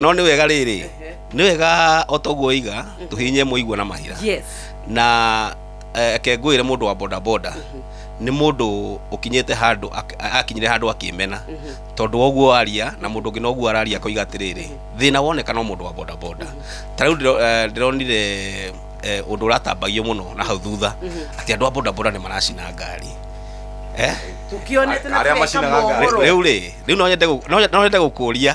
no nĩ wega rĩrĩ nĩ wega o toguo oiga tũhinye mũigua na mahira yes na eh, ke ngwĩre mũndũ wa bodaboda nĩ mũndũ ũkinyĩte handũ ak- a- akinyire handũ akĩmena tondũ woguo aria na mũndũ ũngĩ noguo araria akoiga atĩrĩrĩ thĩna woneka no mũndũ wa bodaboda ta rĩu ndĩro- eh, ndĩronire eh, ũndũ ũratambagio mũno na hau thutha atĩ andũ a bodaboda nĩ maracina ngari eh? tukionete na Arĩa tũreka macinaga ngari. mohoro rĩu rĩ rĩu no nyende gũ- no nyende gũkũria